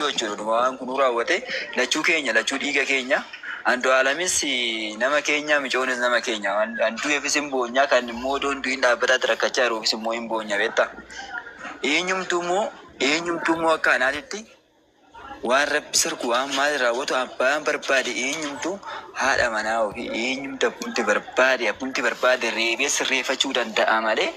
Waaqayyoo jechuudha dhuma waan kunuu raawwate lachuu keenya lachuu dhiiga keenya Andu'aalamis nama keenya micoonis nama keenya waan kan du'eefis hin boonyaa kan immoo odoo hin du'in dhaabbataatti rakkachaa jiruufis immoo hin boonya beekta eenyumtuu immoo eenyumtuu immoo akka anaatitti waan rabbi sirku waan maali raawwatu abbaan barbaade eenyumtuu haadha manaa ofii eenyumti abbumti barbaade abbumti barbaade reebee sirreeffachuu danda'a malee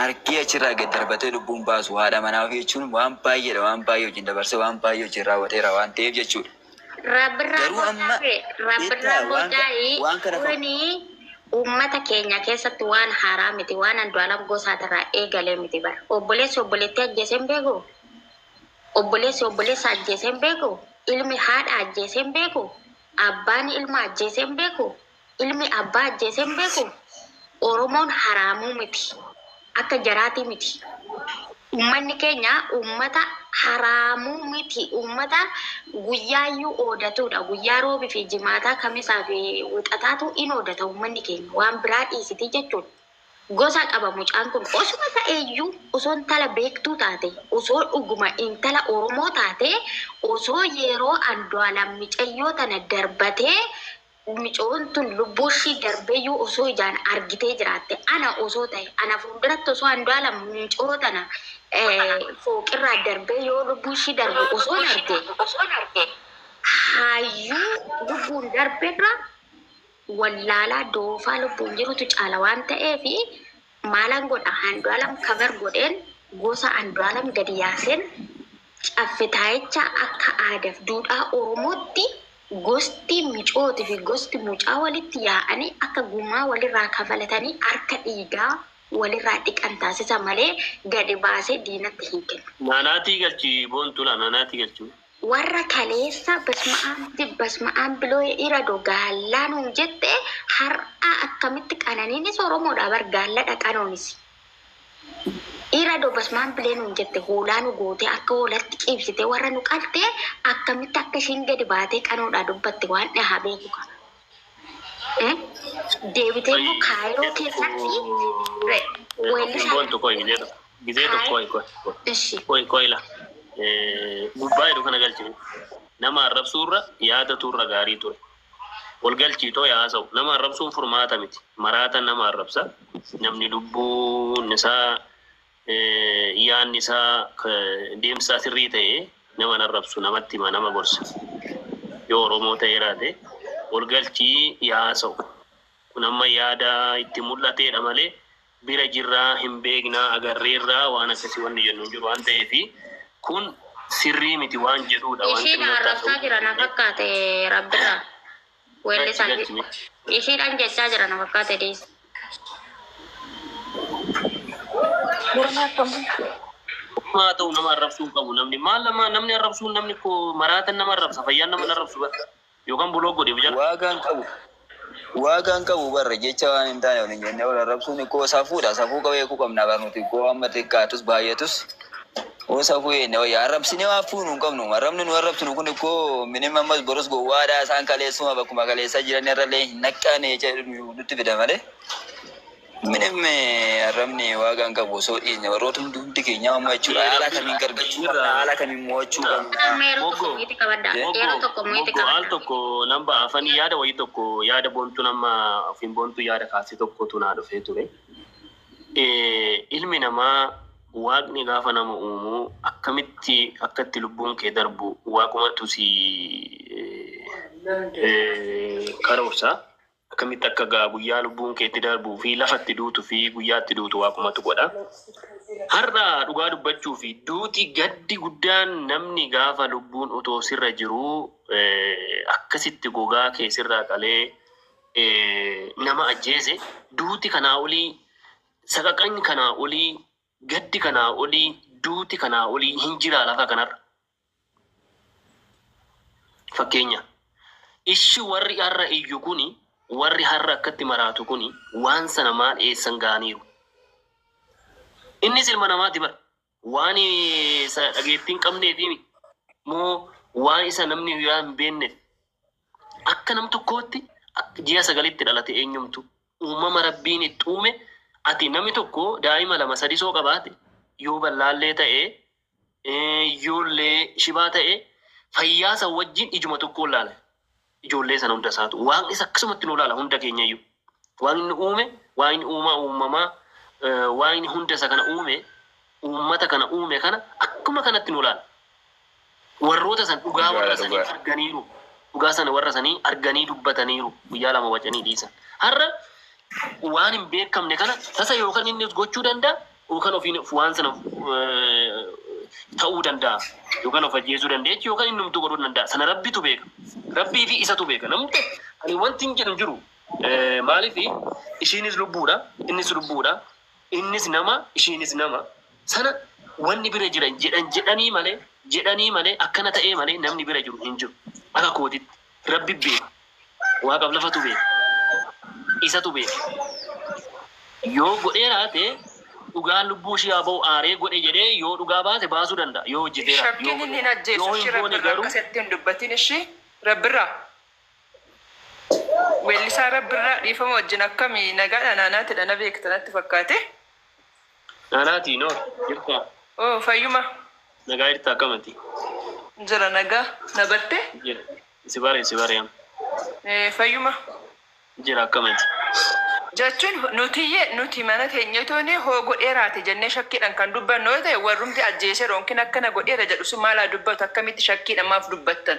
argee achirraa gad darbatee lubbuun baasu haadha manaa ofii jechuun waan baay'eedha waan baay'ee wajjin dabarsee waan baay'ee wajjin raawwateera waan ta'eef jechuudha. Rabbirraa Garuu amma boodaa ta'e rabbirraa beektaa waan boodaa ka- waan kana fakkaatu. kuni uummata keenya keessatti waan haaraa miti waan andu'aalam gosaatirraa eegalee miti bara obboleessi obboleettii ajjeesee hin beeku obboleessi obboleessa ajjeesee hin beeku ilmi haadha ajjeesee hin beeku abbaan ilma ajjeesee hin beeku Ilmi abbaa ajjeese hin beeku? Oromoon haraamuu miti. Akka jaraatii miti. Ummanni keenya ummata haraamuu miti. Ummata guyyaayyuu oodatuudha. Guyyaa roobi fi jimaataa kamisaa fi wixataatu in oodata ummanni keenya. Waan biraa dhiisitii jechuudha. Gosa qaba mucaan kun. Osuma ta'eeyyuu osoo intala beektuu taate, osoo dhuguma intala Oromoo taate, osoo yeroo Andu'aalam micayyoo tana darbatee Micoyon tun lubbuushii darbeyyuu osoo ijaan argitee jiraatte ana osoo tahe ana fuulduratti osoo Andu'aalam micoo tana fooqirraa darbee yoo lubbuushii darbu osoon arge hayyuu lubbuun darberra wallaalaa doofaa lubbuun jirutu caala waan ta'eefi Maalan godha Andualam cover godheen gosa Andualam gadi yaaseen caffetaayicha akka aadaf duudhaa oromootti gosti micooti fi gosti mucaa walitti yaa'ani akka gumaa walirraa kafalatani harka dhiigaa walirraa dhiqan taasisa malee gadi baasee diinatti hin kennu. Naanaatii galchi boontuu laa naanaatii galchi. Warra kaleessa basma'aab dib basma'aab biloye irado gaallaa nuun jette har'aa akkamitti qananiinis oromoodha bar gaalladha qanoonis irado basma'aab bilee nuun jette hoolaa nu gootee akka hoolatti ciibsitee warra nu qalte akkamitti akka ishiin gadi baatee qanoodhaa dubbatte waan dhahaa beeku qaba Eh? deebitee immoo kaayiroo keessatti re- weellisaa Kun boontu koo hin jedhu. Gizee tokko Hi. qoy qoy Eshi. qoy qoy la Eh, gubbaa jedhu kana galchi nama arrabsuu irra yaadatu irra gaarii ture wal galchii too yaa haasa'u nama arrabsuun furmaata miti maraata nama arrabsa namni lubbuun isaa eh, yaanni isaa eh, deemsi isaa sirrii ta'e nama hin arrabsu namatti hima nama gorsa yoo oromoo ta'ee raate wal galchii yaa haasa'u kun amma yaada itti mul'ateedha malee bira jirra, hin beekna, agarreerra waan akkasii wanni jennu hin jiru waan ta'eef kun sirrii miti waan jedhuudha waan Ishiin xinnoottaa arrabsaa ta'uu jira na fakkaate rabbirraa. Gachi Weellisan gachi miti. ishiidhaan jechaa jira na fakkaate dhiisa. Gurmaa akkam. Maa haa ta'u nama arrabsuu hin qabu namni maal nama namni arrabsuun namni ko maraatan nama arrabsa fayyaan nama hin arrabsu bara. Yookan block godhi of jala. Waaga hin qabu Waaga hin qabu bar jecha waan hin taane wal hin jenne wal arrabsuun ikkoo safuudha safuu qabeekuu qabna bar nuti ikkoo amma xiqqaatus baay'atus oo safuu eenne wayya arrabsine waan fuunu hin qabnu arrabni nu arrabsinu kun ikkoo minim ammas borus gowwaadha isaan kaleessuma bakkuma kaleessaa jiran irrallee hin naqqaane jecha nutti fida malee Minim arrabni waagaa hin qabu osoo dhiisne warroota hundi hundi keenyaa amma jechuudha haala kamiin gargachuu qabna haala kamiin mo'achuu qabna. Amma yeroo tokko Moggo, mo'iitti qabadha. Moggo, Yeroo tokko mo'iitti Moggo, al qabadha. tokko nan ba'a afanii yaada wayii tokko yaada boontuun amma ofiin boontuu yaada kaase tokkotu naa dhufee ture. Eh, Ilmi namaa waaqni gaafa nama uumu akkamitti akka itti lubbuun kee darbu waaqumatu si eh, eh, karoorsa. Akkamitti akka egaa guyyaa lubbuun kee itti darbuu fi lafa itti duutu fi guyyaa itti duutu waaqumatu godha. Har'a dhugaa dubbachuu fi duuti gaddi guddaan namni gaafa lubbuun otoo sirra jiruu eh, akkasitti gogaa kee sirraa qalee eh, nama ajjeese duuti kanaa olii saqaqan kanaa olii gaddi kanaa olii duuti kanaa olii hin jiraa lafa kanarra. Fakkeenya, Ishi warri har'a iyyu kuni, warri har'a akkatti maraatu kuni waan sana maal eessan ga'aniiru? Innis ilma namaati bar! Waan isa dhageettii hin qabneefi mi? Moo waan isa namni biraa hin beennef? Akka nam tokkootti ji'a sagalitti dhalate eenyumtu? Uumama Rabbiin itti uume ati nami tokko daa'ima lama sadisoo qabaate yoo ballaallee ta'e ijoollee shibaa ta'e fayyaa san wajjin ijuma tokkoon laala. Ijoollee sana hunda isaatu. Waaqnis akkasumatti nu laala hunda keenya iyyuu. Waan inni uume, waan inni uumaa uumamaa, eh, waan inni hunda isa kana uume, uummata kana uume kana akkuma kanatti nu laala. Warroota san dhugaa Dhugaadha, warra sanii dhugaadha. arganiiru. Dhugaa sana warra sanii arganii dubbataniiru. Guyyaa lama wacanii dhiisan. Har'a waan hin beekamne kana tasa yookaan innis gochuu danda'a Yookaan ofiin of waan sana of, eh, ta'uu danda'a. Yookaan of ajjeesuu danda'a jechuun yookaan inni humtuu godhuu danda'a. Sana rabbitu beeka. Rabbii fi isatu beeka. Namni ta'e ani wanti hin jedhu hin jiru. Eh, Maaliif ishiinis lubbuudha, innis lubbuudha, innis nama, ishiinis nama. Sana wanni bira jira jedhan jedhanii malee jedhanii malee akkana ta'ee malee namni bira jiru hin jiru. Akka kootitti rabbi beeka. Waaqaf lafatu beeka. Isatu beeka. Yoo godhee raate dhugaan lubbuu ishii haa ba'u aaree godhe jedhee yoo dhugaa baate baasuu danda'a. Yoo hojjetee raate. Shakkiin inni hin ajjeesu ishii rabbirraa akka isatti hin dubbatin ishii rabbirraa weellisaa rabbirraa dhiifama wajjin akkami nagaadha naanaatidha na beekta natti fakkaate. Naanaa ati noor jirtaa. Ooh fayyuma. Nagaa jirta akkam ati. Jira nagaa na barte. Jira si bare si bare amma. Ee fayyuma. Jira akkam ati. Jechuun nutiyye nuti mana teenyetuuni hoo godheeraati jennee shakkiidhan kan dubbannu yoo ta'e warrumti ajjeeseera yookiin akkana godheera jedhu sun maal haa dubbatu akkamitti shakkiidhan maaf dubbattan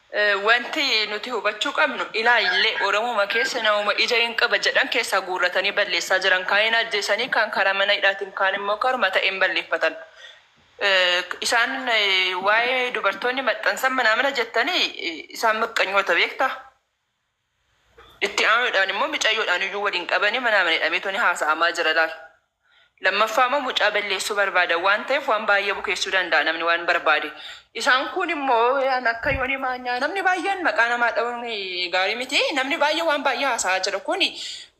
Wanti nuti hubachuu qabnu ilaa illee Oromuma keessa namuma ija in qaba jedhan keessaa guurratanii balleessaa jiran. Kaan in ajjeesanii, kaan karaa mana hidhaatiin, kaan immoo karuma ta'een balleeffatan. Isaan waa'ee dubartoonni maxxansan mana mana jettanii isaan maqqanyoota beektaa? Itti aanuudhaan immoo micayyoodhaan iyyuu wal hin qabani manaa mana hidhameetoo ni haasa'amaa jira laal. Lammaffaa immoo mucaa balleessuu barbaada waan ta'eef waan baay'ee bukeessuu danda'a namni waan barbaade. Isaan kun immoo an akka yoonii maanyaa namni baay'een maqaa namaa dha'uun gaarii miti namni baay'ee waan baay'ee haasa'aa jira kun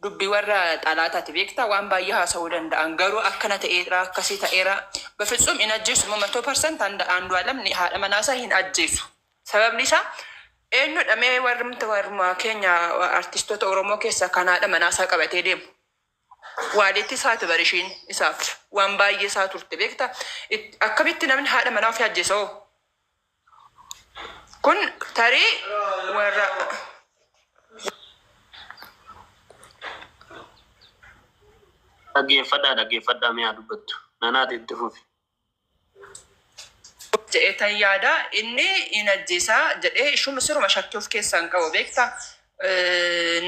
dubbii warra xalaataati beektaa waan baay'ee haasa'uu danda'an garuu akkana ta'eera akkasii ta'eera bafitsum hin ajjeesu immoo matoo parsanti Andu'aalam haadha manaasaa hin ajjeesu. Sababni isaa eenyudha mee warrumti warrumaa keenya artistoota Oromoo keessaa kan haadha manaa isaa qabatee deemu. Waaliitti isaati bar ishiin isaaf waan baay'ee isaa turte beekta. It- Akkamitti namni haadha manaa ofii ajjeesa hoo? Kun tarii warra Dhaggeeffadhaa dhaggeeffadhaa mee haa dubbattu. Nanaati itti fufi. jedheetan yaada. Inni in ajjeesa jedhee ishuma siruma shakkii of keessaa hin qabu beekta.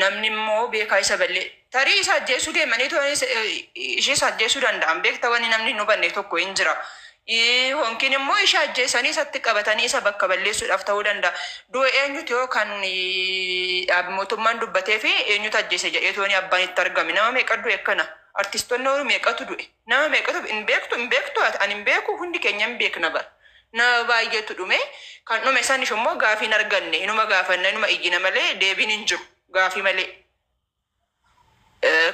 Namni immoo beekaa isa ballee tarii isa ajjeesuu deemanii too ishee isa ajjeesuu danda'an beekta wanni namni hin hubanne tokko hin jira. Honkiin immoo ishee ajjeesanii isatti qabatanii isa bakka balleessuudhaaf ta'uu danda'a. Du'a eenyuti yoo kan mootummaan dubbatee fi eenyutu ajjeese jedhee tooni abbaan itti argame nama meeqa du'e kana artistoonni meeqatu du'e. Nama meeqatu hin beektu hin beektu ati ani hin beeku hundi keenya hin beekna bar nama baay'eetu dhume kan dhume saniif immoo gaafii hin arganne inuma gaafanna inuma iyyina malee deebiin hin jiru gaafii malee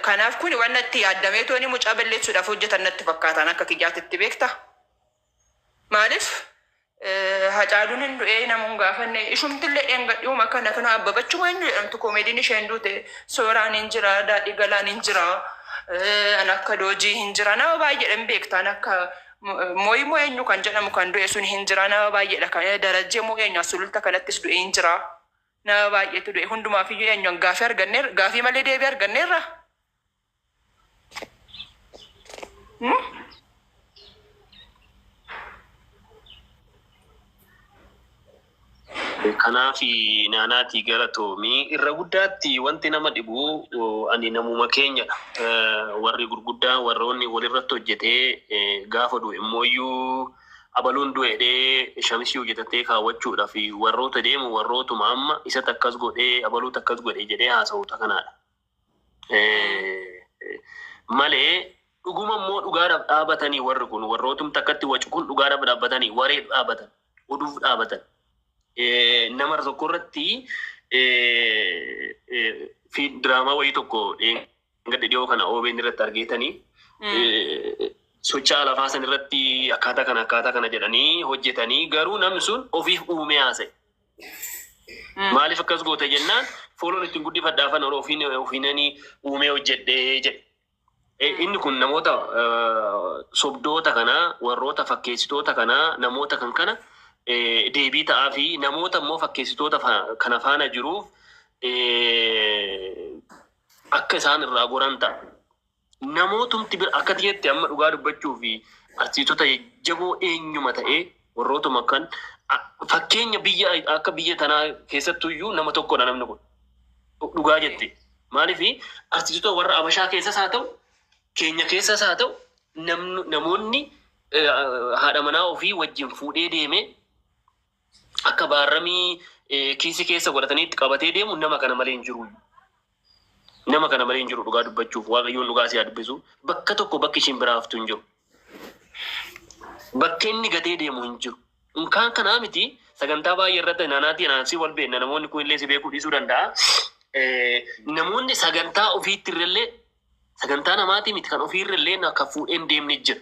kanaaf kuni waan natti yaaddameetooni mucaa balleessuudhaaf hojjetan natti fakkaataan akka kiyyaatitti beekta. Maalif Hacaalun hin du'ee namu hin gaafanne ishumtille dheengadhiuma kana kana abbabachuma hin jedhamtu koomediin isheen duute sooraan hin jira daadhii galaan hin jira an akka doojii hin jira nama baay'eedhan beektaan akka mooyi moo eenyu kan jedhamu kan du'e sun hin jira nama baay'eedha kan darajjee moo eenyu asululta kanattis du'e hin jira nama baay'eetu du'e hundumaaf iyyuu eenyu gaafii arganneerra gaafii malee deebii arganneerra Kanaaf naanaatii gara toomii irra guddaatti wanti nama dhibu ani namuma keenya warri gurguddaa warroonni walirratti hojjetee gaafa du'e immooyyuu abaluun du'edhee shamisii hojjetattee kaawwachuudha fi warroota deemu warrootuma amma isatti akkas godhee abaluutu akkas godhe jedhee haasa'uuta kanaadha. malee dhuguma immoo dhugaadhaaf dhaabatanii warri kun warrootum takkatti wacu kun dhugaadhaaf dhaabatanii wareef dhaabatan oduuf dhaabatan nama tokko irratti fi diraamaa wayii tokko gadda dhiyoo kana OBN irratti argeetanii socho'aa lafaa san irratti akkaataa kana akkaataa kana jedhanii hojjetanii garuu namni sun ofiif uumee haasa'e. Maaliif akkas goota jennaan fooloon ittiin guddifadha afaan oro ofiin ofiinanii uumee hojjedhee jedhe. Eh, Inni kun namoota eh, sobdoota kanaa warroota fakkeessitoota kanaa namoota kan kana eh, deebii ta'aa fi namoota immoo fakkeessitoota fa- kana faana jiruuf eh, akka isaan irraa goran ta'a. Namootumti bira akkati jette amma dhugaa dubbachuuf artiistota jajjaboo eenyuma ta'ee warrootuma akkan fakkeenya biyya akka biyya tanaa keessattuu iyyuu nama tokkodha namni kun dhugaa jette maaliif artiistota warra abashaa keessas haa ta'u keenya keessas haa ta'u namni namoonni eh, haadha manaa ofii wajjin fuudhee deemee akka baarramii eh, kiisii keessa godhataniitti qabatee deemu nama kana malee hin jiru. Nama kana malee hin jiru dhugaa dubbachuuf waaqayyoon dhugaa si haa dubbisu. Bakka tokko bakki ishiin biraa haftu hin jiru. Bakka inni gatee deemu hin jiru. Unkaan kanaa miti sagantaa baay'ee irratti naanaatii anaansii wal beekna namoonni kun illee si beekuu dhiisuu danda'a. Eh, Namoonni sagantaa ofiitti irrallee sagantaa namaatii miti kan ofii irrallee na- kan fuudheen deemni jira.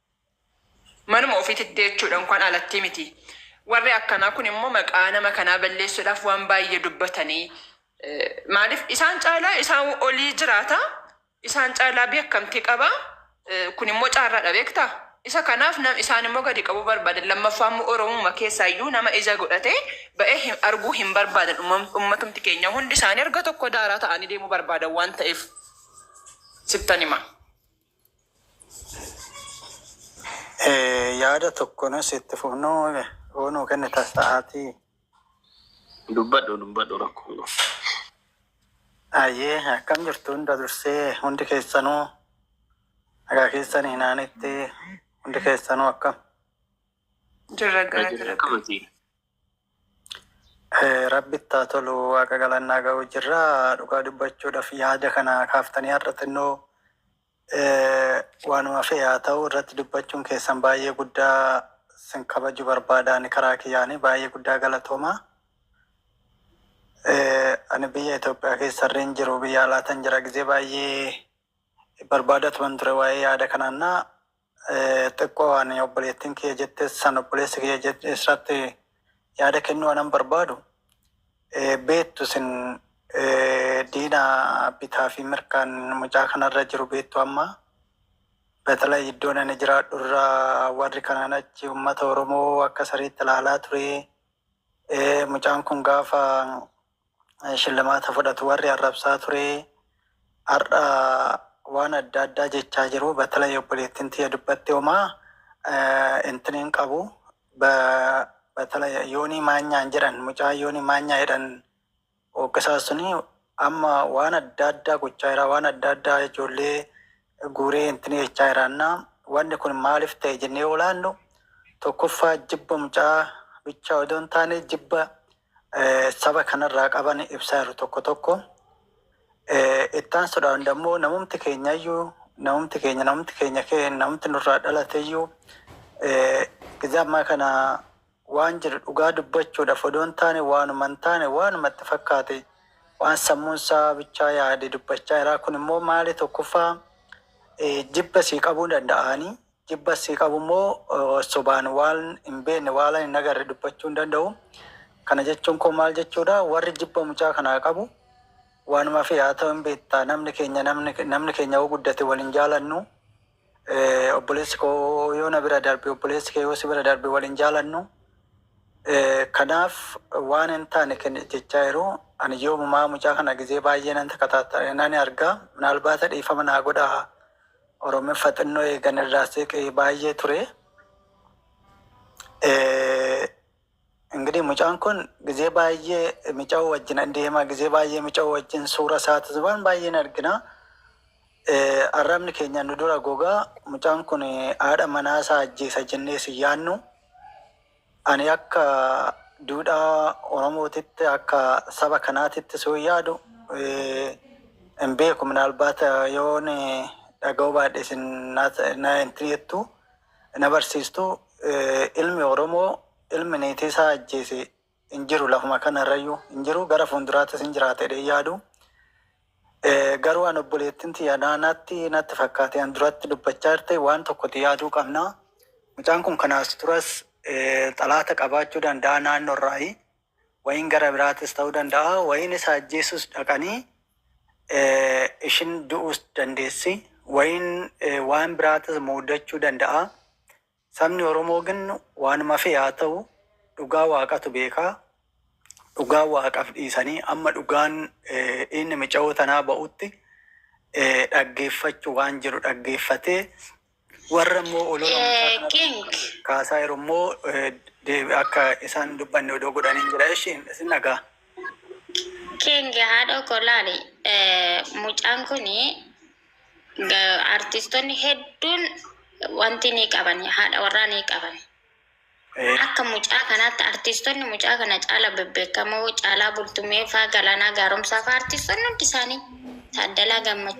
Manuma ofiititti jechuudha unkwaan alattii miti. Warri akkanaa kun immoo maqaa nama kanaa balleessuudhaaf waan baay'ee dubbatanii maaliif isaan caalaa isaa olii jiraata isaan caalaa beekamtii qaba kun immoo caarraadha beekta isa kanaaf isaan immoo gadi qabuu barbaadan lammaffaa immoo oromuma keessaa iyyuu nama ija godhate ba'ee arguu hin barbaadan ummatumti keenya hundi isaanii erga tokko daaraa ta'anii deemuu barbaadan waan ta'eef sittan hima. Eh, yaada tokko nus itti fufnu yoo nuu kennita sa'aatii Dubbadhu dubbadhu rakkoo qabu. Ayyee akkam jirtu hunda dursee hundi keessanuu nagaa keessan hinaanitti hundi keessanuu akkam Jirra Irra galata jira rabbi. akkamitti? Rabbitti haa tolu waaqa galanni haa ga'u jirra. Dhugaa dubbachuudhaaf yaada kana kaaftanii har'a xinnoo eh, waanuma fe'e haa ta'u irratti dubbachuun keessan baay'ee guddaa sin kabaju barbaada ani karaa kiyyaanii baay'ee guddaa galatooma. Eh, Ani biyya Itoophiyaa keessa irreen jiru biyya alaatan jira gizee baay'ee barbaada turan ture waa'ee yaada kanaannaa Xiqqoo ani obboleettiin kiyya jette san obboleessi kiyya jette irratti yaada kennuu anan barbaadu beektu isin diina bitaa fi mirkaan mucaa kanarra jiru beektu amma betala iddoon ani jiraadhu irra warri kanaan achi uummata Oromoo akka sariitti ilaalaa ture mucaan kun gaafa shillimaata fudhatu warri arrabsaa ture har'a waan adda addaa jechaa jiru batala obboleettiin tiyya dubbatte homaa eh, intini hin qabu Ba- batala yoonii maanyaan jedhan mucaa yoonii maanyaa jedhan hooggasaa suni amma waan adda addaa gochaa jira waan adda addaa ijoollee guuree intini jechaa jiraanna wanni kun maaliif ta'e jennee olaannu tokkoffaa jibba mucaa bichaa odoo hin taane jibba saba kanarraa qaban ibsaa jiru tokko tokko. Itti aansuudhaan immoo namumti keenyayyuu namumti keenya namumti keenya kee namumti nurraa dhalateyyuu gizee ammaa kana waan jiru dhugaa dubbachuudhaaf odoo hin taane waanuma hin taane waanuma itti fakkaate waan sammuun isaa bichaa yaade dubbachaa jira. Kun immoo maali tokkoffaa jibba sii qabuu danda'anii Jibba sii qabu immoo sobaan waan hin beekne waalan hin agarre dubbachuu hin danda'u. Kana jechuun koo maal jechuudha warri jibba mucaa kanaa qabu waanuma fi haa ta'u hin beektaa namni keenya namni keenya yoo guddate wal hin jaalannu obboleessi koo yoo na bira darbe obboleessi kee yoo si bira darbe wal hin jaalannu kanaaf waan hin taane kenna jechaa jiru ani yoomumaa mucaa kana gizee baay'ee nan takataatta'e nan argaa minaalbaata dhiifama naa godhaa Oromiffa xinnoo eegan irraa seeqe baay'ee ture. Ingidihi mucaan kun gizee baay'ee mica'uu wajjin an deemaa gizee baay'ee mica'uu wajjin suura isaati waan baay'een argina. Arrabni keenya nu dura gogaa mucaan kun haadha manaa isaa ajjeesa jennee si yaannu. Ani akka duudhaa Oromootitti, akka saba kanaatitti soon yaadu hin beeku. Minaalbaat yoon dhaga'uu baadhe isin na entini jettu, na barsiistu. Ilmi Oromoo ilmi niitii isaa ajjeese hin jiru lafuma kanarrayyuu hin jiru. Gara fuulduraattis hin jiraata jedhee hin yaadu. Garuu an obboleettin tiyya naa naatti natti fakkaate an duratti dubbachaa jirte waan tokkoti yaaduu qabna mucaan kun kanaas duras xalaata qabaachuu danda'a naanno irraayi wayin gara biraatis ta'uu danda'a wayin isa ajjeesus dhaqanii ishin du'uus dandeessi wayin waan biraatis muudachuu danda'a Sabni oromoo gin waanuma fee haa ta'u dhugaa waaqatu beeka dhugaa waaqaf dhiisanii amma dhugaan dhiinni micayoo tanaa ba'utti dhaggeeffachu waan jiru dhaggeeffatee warra immoo olola mucaa kanarratti kaasaa jiru immoo deebi akka isaan hin dubbanne odoo godhaniin jedha eshi isin dhagaa. King haadhoo koo laali mucaan kuni Artiistonni hedduun wanti ni qaban, haadha warraa ni qaban. Akka mucaa kanaatti artiistonni mucaa kana caala bebbeekamoo Caalaa Bultumee faa, Galaanaa Gaaromsaa faa artiistonni hundi isaanii Taaddalaa Gammachuu.